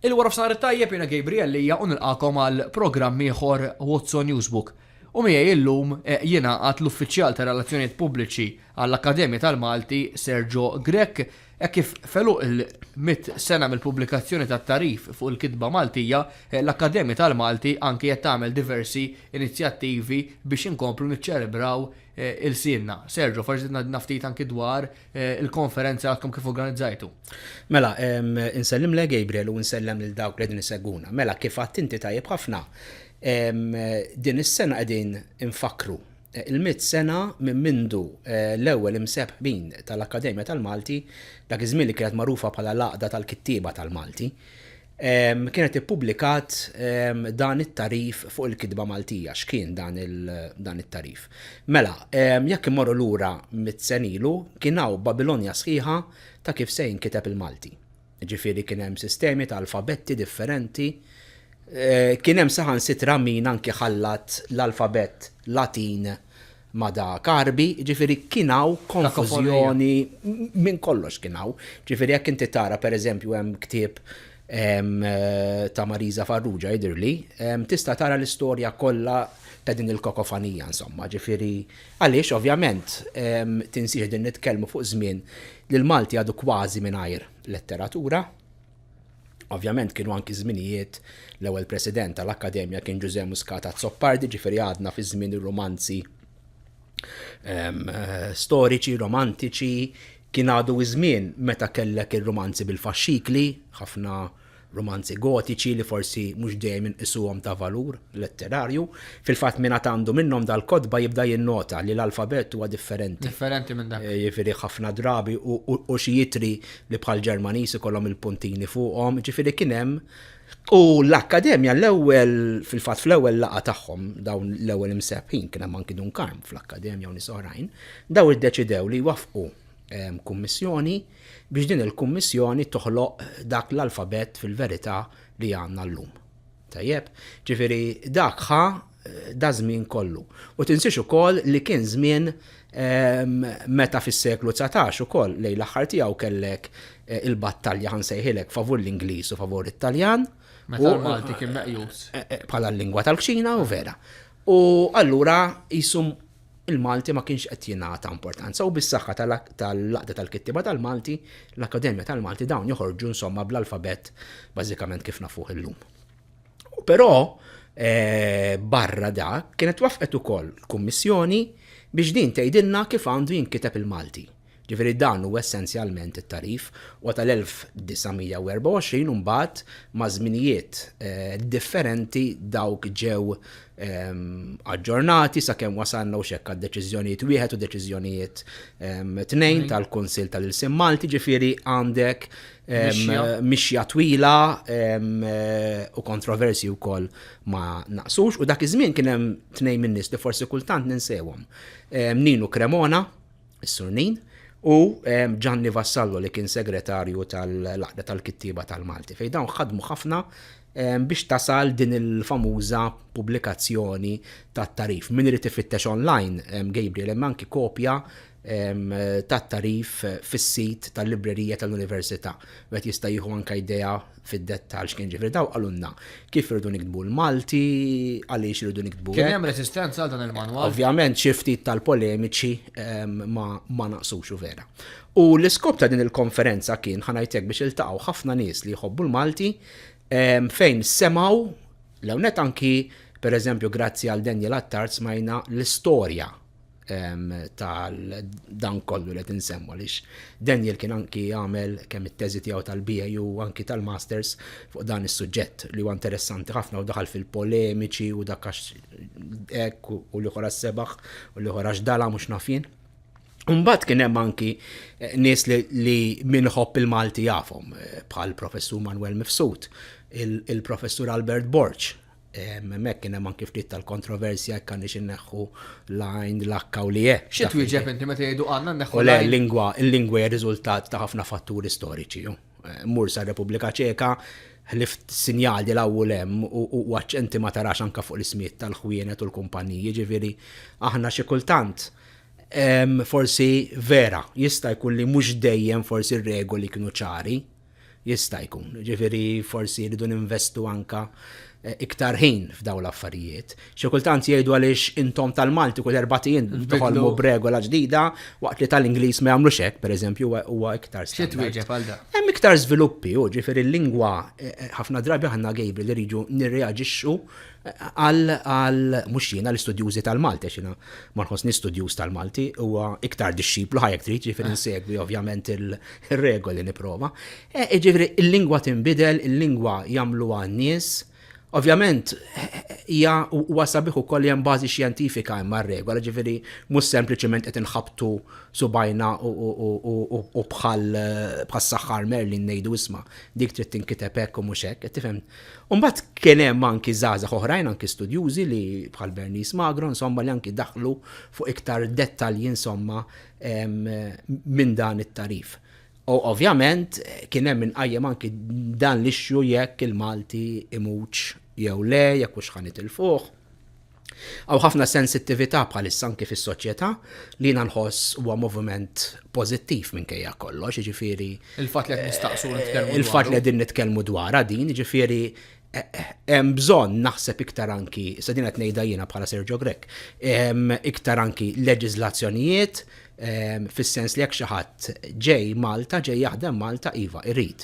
Il-warofsinhar it-tajjeb, jiena Gabriel Lia u nilqagħkom għal programm ieħor What's on Newsbook. U miegħi illum jingħaqad l-Uffiċjal tar-Relazzjonijiet Pubbliċi għall-Akkademja tal-Malti, Sergio Grech, hekk kif f'għeluq il-mitt sena mill-pubblikazzjoni tat-tagħrif fuq il-kitba Maltija, l-Akkademja tal-Malti anki qed tagħmel diversi inizjattivi biex inkomplu niċċelebraw ilsienna. Sergio, forsi tgħidilna ftit anki dwar Eh, il-konferenza għadkom kif organizzajtu. Mela, insellem le Gabriel u insellem lil dawk li din seguna. Mela, kif għadt inti tajjeb ħafna, din is-sena qegħdin infakru eh, il-mit sena minn mindu eh, l-ewwel imsebħbin tal-Akkademja tal-Malti dak iż-żmien li kienet magħrufa bħala l-għaqda tal-kittieba tal-Malti. kienet ippubblikat dan it-tagħrif fuq il-kitba Maltija. X'kien dan it-tagħrif? Mela, jekk immorru lura mit senilu, kien hawn Babilonja sħiħa ta' kif se jinkiteb il-Malti. Ġifieri kien hemm sistemi ta' alfabetti differenti. Eh, kien hemm saħansitra min anki ħallat l-alfabett Latin ma' Da Carbi, jiġifieri kien hawn konfużjoni, minn kollox kien hawn. Jiġifieri jekk inti tara pereżempju hemm ktieb ta' Marisa Farrugia jidhirli, tista' tara l-istorja kollha ta' din il-kakofonija insomma. Jiġifieri għaliex ovvjament tinsiex din nitkellmu fuq żmien li l-Malti għadu kważi mingħajr letteratura. Ovvjament kienu anki żminijiet l-ewwel president tal-Akkademja kien Ġużè Muscat Azzopardi, ġifieri għadna fi żmien ir-romanzi ehm, storiċi, romantiċi, kien għadu iż-żmien meta kellek ir-romanzi bil-faxxikli, ħafna romanzi gotiċi li forsi mhux dejjem inqisuhom ta' valur letterarju. Fil-fatt minn għandu minnhom dal-kotba jibda jinnota li l-alfabet huwa differenti. Differenti minn dak. Eh, jifieri ħafna drabi u xi jitri li bħall-Ġermaniż ikollhom il-puntini fuqhom, ġifieri kien hemm U l-Akkademja l-ewwel fil-fatt fl-ewwel laqgħa tagħhom dawn l-ewwel imseħħin kien hemm anki Dunkarm fl-Akkademja u nies oħrajn, daw iddeċidew li jwaffqu ehm, kummissjoni biex din il-kummissjoni toħloq dak l-alfabett fil-verità li għandna llum. Tajjeb, ġifieri dak ħa daż-żmien kollu. U tinsiex ukoll li kien żmien meta fis-seklu dsatax ukoll lejn l-aħħar tiegħu kellek il-battalja, ħa nsejħilek, favur l-Ingliż u favur it-Taljan. Meta l-Malti kien meqjus. Bħala l-lingwa tal-kċina u vera. U allura qisu il-Malti ma kienx qed jingħata importanza u bis-saħħa tal-Għaqda tal-Kittieba tal-Malti, l-Akkademja tal-Malti dawn joħorġu insomma bl-alfabett bażikament kif nafuh illum. Però eh, barra dak kienet waffqet ukoll kummissjoni biex din tgħidilna kif għandu jinkiteb il-Malti. Ġifieri dan hu essenzjalment it-tagħrif. U tal-1924 u mbagħad ma' żminijiet differenti dawk ġew aġġornati sakemm wasalna u x'hekk għad-deċiżjonijiet wieħed u deċiżjonijiet tnejn tal-Kunsill tal-Ilsien Malti, ġifieri għandek mixja twila u kontroversji wkoll ma naqsux. U dak iż-żmien kien hemm tnejn min-nies li forsi kultant ninsewhom, Ninu Cremona, is-Surnin, u Ġanni ehm, Vassallo li kien segretarju tal-Laqda tal-Kittieba tal-Malti, fejn dawn ħadmu ħafna ehm, biex tasal din il-famuża pubblikazzjoni tat-tarif. Min irid ifittex online, ehm, Gabriel, hemm anki kopja tat-tarif fis-sit tal-librerija tal-Università. Wet jista' jieħu anke idea fid-dettall x'kien ġifri daw qalulna kif irridu niktbu l-Malti, għaliex irridu niktbu. Kien hemm resistenza għal dan il-manwal. Ovvjament xi ftit tal-polemiċi ehm, ma naqsux u vera. U l-iskop ta' din il-konferenza kien ħanajtek biex iltaqgħu ħafna nies li jħobbu l-Malti ehm, fejn semaw l-ewnet anki per eżempju grazzi għal Daniel Attard smajna l-istorja tal dan kollu li qed insemmu għaliex Daniel kien anki jagħmel kemm it-teżi tiegħu tal-BA u anki tal-Masters fuq dan is-suġġett li huwa interessanti ħafna u daħal fil-polemiċi u dak hekk u li ħora sebaħ u li ħora xdala mhux nafin. Umbat kien hemm anki eh, nies li minħobb il-Malti jafhom eh, bħal professur Manuel Mifsud, il-professur Albert Borċ, Hemmhekk kien hemm anki ftit tal-kontroversja jekk għandniex inneħħu l-għajn, l-akka u li e. Xi twieġeb inti meta jgħidu għandna nneħħu l-għajn? Le, lingwa, il-lingwa hija riżultat ta' ħafna fatturi storiċi. Mur sa' Repubblika Ċeka, ħlif sinjal di law hemm u għacċenti ma tarax anka fuq l-ismiet tal-ħwienet u l-kumpaniji, ġifieri aħna xi kultant forsi vera jista' jkun li mhux dejjem forsi r-regoli kienu ċari. Jista' jkun. Jiġifieri forsi rridu ninvestu anke iktar ħin f'dawn l-affarijiet. Xi kultant jgħidu għaliex intom tal-Malti kull erbat ijiem toħolmu b'regola ġdida waqt li tal-Ingliż ma jagħmlux hekk, pereżempju, huwa iktar standard. Xi twieġeb għal dan? Hemm iktar żviluppi, hu, jiġifieri l-lingwa ħafna drabi aħna gejbri li rridu nirreaġixxu Qal għal mhux jiena l-istudjużi tal-Malti għax jiena ma nħossni studjuż tal-Malti huwa iktar dixxiplu ħajjek trid ġifieri insegwi ovvjament ir-regoli nipprova. E, jiġifieri il-lingwa tinbidel, il-lingwa jagħmluha n-nies. Ovvjament hija huwa sabiħ ukoll hemm bażi xjentifika hemm regola ġifieri mhux sempliċement qed inħabtu subajna u bħal bħas-saħħar Merlin ngħidu isma' dik trid tinkiteb hekk u mhux hekk, tifhem U mbagħad kien hemm anki żgħażagħ oħrajn anki studjużi li bħal Bernice Magro insomma li anki daħlu fuq iktar dettalji insomma minn dan it-tagħrif. U ovvjament kien hemm inqajjem anki dan l-issue jekk il-Malti imutx jew le, jekk hux ħan itilfuh. Hawn ħafna sensittività bħalissa anki fis-soċjetà li jiena nħoss huwa moviment pożittiv minkejja kollox, jiġifieri Il-fatt li qed nistaqsu u nitkellmu dwaru. Il-fatt li qegħdin nitkellmu dwarha din, jiġifieri hemm bżonn naħseb iktar anki, se din qed ngħidha jiena bħala Sergio Grech, iktar anki leġiżlazzjonijiet Fis-sens li jekk xi ħadd ġej Malta, ġej jaħdem Malta, iva, irid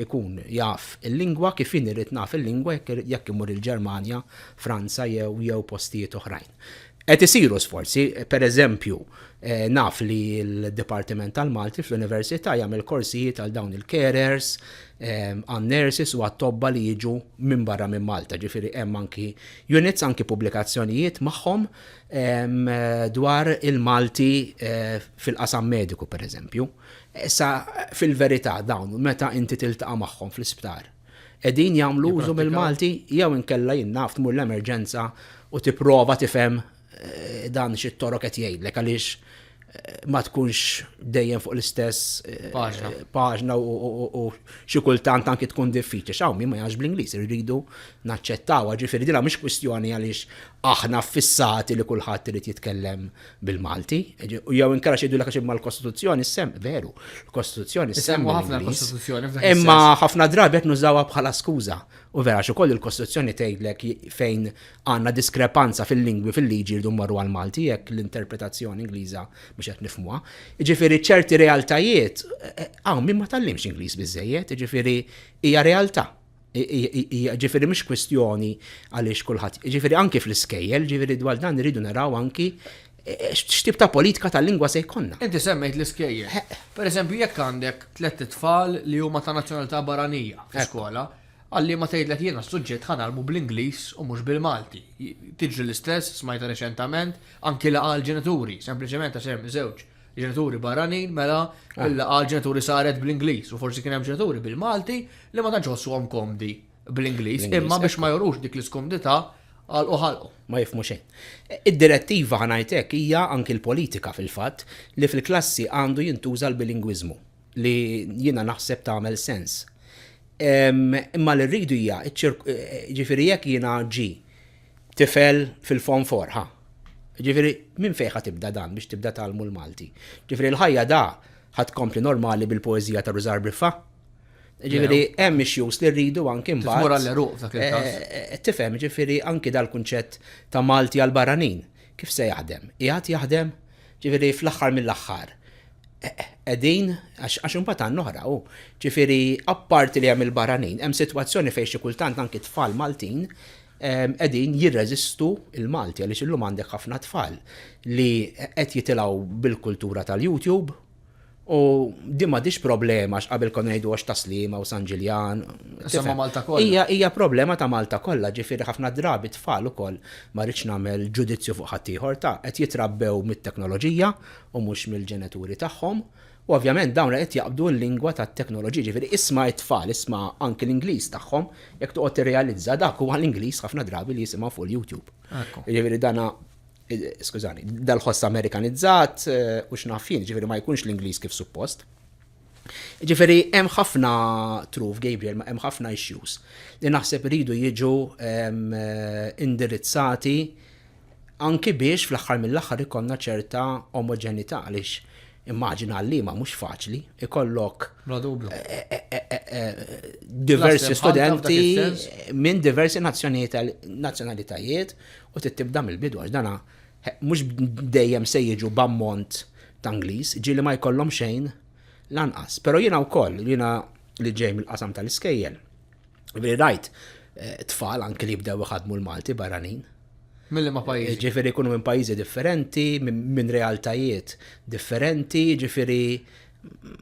ikun jaf il-lingwa kif jien irid naf il-lingwa jekk imur il-Ġermanja, Franza jew jew postijiet oħrajn. Qed isiru sforzi, pereżempju, eh, naf li l-Dipartiment tal-Malti fl-Università jagħmel korsijiet għal dawn il-carers, għan nurses u għat-tobba li jiġu minn barra minn Malta, ġifieri hemm anki units, anki pubblikazzjonijiet magħhom dwar il-Malti fil-qasam mediku pereżempju. Issa fil-verità dawn meta inti tiltaqa' magħhom fl-isptar qegħdin jagħmlu użu mill-Malti jew inkella jien naf tmur l-emerġenza u tipprova tifhem dan xi t-Torok qed jgħidlek għaliex ma tkunx dejjem fuq l-istess eh, paġna u xi kultant anki tkun diffiċli. X'hawn min ma jgħax bl-Ingliż irridu naċċettawha, ġifieri dinha mhix kwistjoni għaliex aħna fissati li kulħadd irid jitkellem bil-Malti. U jew inkara xi jidulek għax l-Kostituzzjoni sem veru. L-Kostituzzjoni sem ħafna l-Kostituzzjoni. Imma ħafna drabi qed nużawha bħala skuża. U vera xi koll il-Kostituzzjoni tgħidlek fejn Għandna diskrepanza fil-lingwi fil-liġi rridu mmorru għall-Malti jekk l-interpretazzjoni Ingliża mhux qed nifhmuha. Jiġifieri ċerti realtajiet hawn min ma tgħallimx Ingliż biżżejjed, jiġifieri hija realtà. Ġifieri mhux kwistjoni għaliex kulħadd, ġifieri anki fl-iskejjel, ġifieri dwar dan irridu naraw anki x'tip ta' politika tal-lingwa se jkollna. Inti semmejt l-iskejjel. Pereżempju jekk għandek tliet itfal li huma ta' nazzjonalità barranija fl-iskola, Għal liema tgħidlek jiena s-suġġett ħa ngħallmu bl-Ingliż u mhux bil-Malti. Tiġri l-istess, smajtha riċentament, anki laqgħa għall-ġenituri, sempliċement għax hemm żewġ ġenituri barranin, mela l-laqgħa għall-ġenituri saret bl-Ingliż u forsi kien hemm ġenituri bil-Malti li ma tantx iħossuhom komdi bl-Ingliż, imma biex ma jurux dik l-iskomdità għalqu ħalqu. Ma jifhmu xejn. Id-direttiva, ħa ngħid hekk, hija anki l-politika fil-fatt li fil-klassi għandu jintuża l-bilingwiżmu. li jiena naħseb tagħmel sens. Imma li rridu hija, ġifieri jekk jiena ġi tifel fil-fon forħa. Ġifieri minn fejħa tibda dan biex tibda talmu l-Malti. Ġifieri l-ħajja da ħad kompli normali bil-poezija ta' Rużar Briffa. Ġifieri hemm ix-xjus li rridu anki mbagħad. Tmur għall-eruq dak il-każ. Eh, eh, eh, tifhem, ġifieri anki dal-kunċett ta' Malti għal barranin. Kif se jaħdem? Qiegħed jaħdem? Ġifieri fl-aħħar mill-aħħar qegħdin għax imbagħad għandna oħra hu. Ġifieri apparti li hemm il-barranin, hemm sitwazzjoni fejn xi kultant anki tfal Maltin ehm, qegħdin jirreżistu il-Malti għaliex illum għandek ħafna tfal li qed jitilgħu bil-kultura tal-YouTube U din m'għadhiex problema għax qabel konna ngħidu għax ta' Sliema u San Ġiljan. Semma Malta kollha. Hija hija problema ta' Malta kollha, ġifieri ħafna drabi tfal ukoll ma rridx nagħmel ġudizzju fuq ħaddieħor ta' qed jitrabbew mit-teknoloġija u mhux mill-ġenituri tagħhom. U ovvjament dawn qed jaqbdu l-lingwa tat-teknoloġija, ġifieri isma' t-tfal, isma' anki l-Ingliż tagħhom, jekk toqgħod tirrealizza dak huwa l-Ingliż ħafna drabi li jisimgħu fuq il-YouTube. Jiġifieri dana skużani, dal-ħoss Amerikanizzat u x'naf jien, ġifieri ma jkunx l-Ingliż kif suppost. Ġifieri hemm ħafna truf Gabriel, ma hemm ħafna issues li naħseb iridu jiġu indirizzati anki biex fl-aħħar mill-aħħar ikonna ċerta omoġenità għaliex Immaġina għalliema mhux faċli, ikollok Bla dubju. diversi Klasse bħal ta' f'dak studenti is-sens. minn diversi nazzjonijiet- nazzjonalitajiet u trid tibda mill-bidu għax dana he, mhux dejjem se jiġu b'ammont ta' Ingliż, ġieli ma jkollhom xejn lanqas. Però jiena wkoll, jiena li ġej mill-qasam tal-iskejjel, Veri rajt, eh, tfal anki li jibdew iħadmu l-Malti barranin. Milli ma pajjiż. Eh, ġifiri kunu minn pajjiżi differenti, minn realtajiet differenti, ġifiri.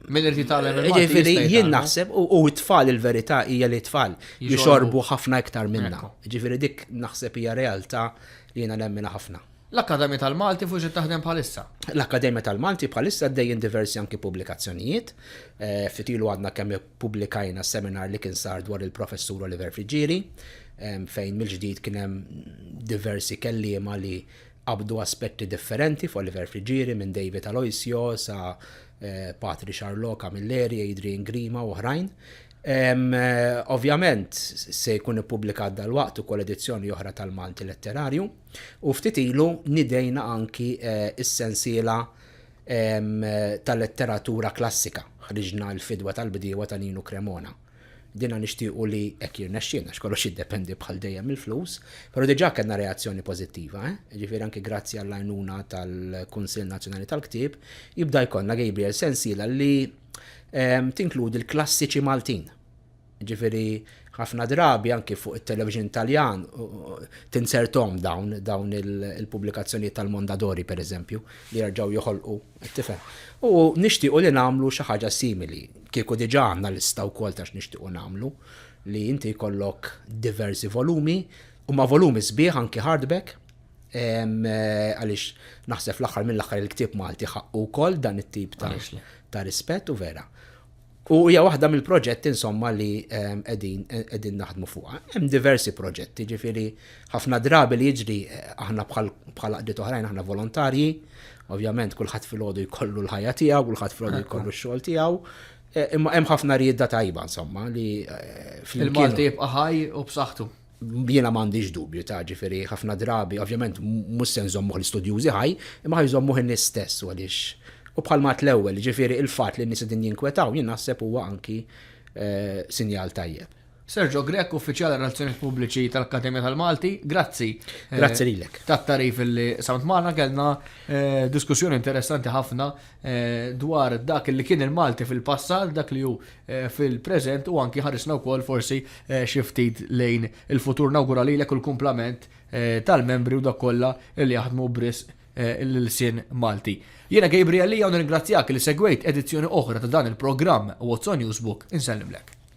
Minn irti tal eh, Ġifiri jien naħseb u t-tfal il-verità hija li t-tfal jixorbu ħafna iktar minna. Ġifiri dik naħseb hija realtà li jiena nemmina ħafna. L-Akkademja tal-Malti fuġi taħdem bħalissa. L-Akkademja tal-Malti bħalissa dejjem diversi anki pubblikazzjonijiet. Fitilu għadna kemm Ppubblikajna seminar li kien sar dwar il-Professur Oliver Friggieri, fejn mill-ġdid kien hemm diversi kelliema li qabdu aspetti differenti fuq Oliver Friggieri minn David Aloisio sa eh, Patri Charlot Camilleri, Adrian Grima u oħrajn. Eh, ovvjament se jkun ippubblikat dal-waqt ukoll edizzjoni oħra tal-Malti Letterarju u ftit ilu nidejna anki eh, is-sensiela ta' letteratura klassika ħriġna l-fidwa tal-bdiewa ta' Ninu Cremona. Dina nixtiequ li hekk jirnexxielna x'kollox jiddependi bħal dejjem il-flus, però diġà kellna reazzjoni pożittiva, eh? Ġifieri anki grazzi għall-għajnuna tal-Kunsill Nazzjonali tal-Ktieb, jibda jkollna Gabriel sensiela li tinkludi l-klassiċi Maltin. Ġifieri ħafna drabi anki fuq it-television Taljan tinsertom dawn dawn il-pubblikazzjonijiet tal-Mondadori pereżempju li jerġgħu joħolqu tifhem. U nixtiequ li nagħmlu xi ħaġa simili. Kieku diġà għandna lista wkoll ta' x'nixtiequ nagħmlu li inti jkollok diversi volumi u ma' volumi sbieħ anki hardback għaliex naħseb fl-aħħar mill-aħħar il-ktieb Malti ħaqqu wkoll dan it-tip ta' rispett u vera. U hija waħda mill-proġetti insomma li ehm, qegħdin qegħdin naħdmu fuqha. Hemm diversi proġetti, ġifieri ħafna drabi li jiġri eh, aħna bħal bħal qdiet oħrajn aħna volontarji, ovvjament kulħadd filgħodu jkollu l-ħajja tiegħu, kulħadd filgħodu jkollu x-xogħol tiegħu. Eh, imma hemm ħafna rieda tajba insomma li eh, fil-Malti jibqa' ħaj u b'saħħtu. jiena m'għandix dubju ta' ġifieri ħafna drabi, ovvjament mhux se nżommuh l-istudjużi ħaj, imma ħajżommuh in-nies stess għaliex. U bħal mat l-ewwel, ġifieri il-fatt li n-nies qegħdin jinkwetaw jien naħseb huwa anki eh, sinjal tajjeb. Sergio Grech, Uffiċjal Relazzjonijiet Pubbliċi tal-Akkademja tal-Malti, grazzi. Eh, grazzi lilek. Tat-tarif li samt magħna kellna eh, diskussjoni interessanti ħafna dwar dak li kien il-Malti fil-passat, dak li hu fil-preżent u anki ħarisna wkoll forsi xi ftit lejn il-futur. Nawgura lilek u l-kumplament tal-membri u dawk kollha li jaħdmu b'risq l-ilsien Malti. Jiena Gabriel Lia u nirringrazzjak li segwejt edizzjoni oħra ta' dan il-programm What's on Newsbook. Insellimlek.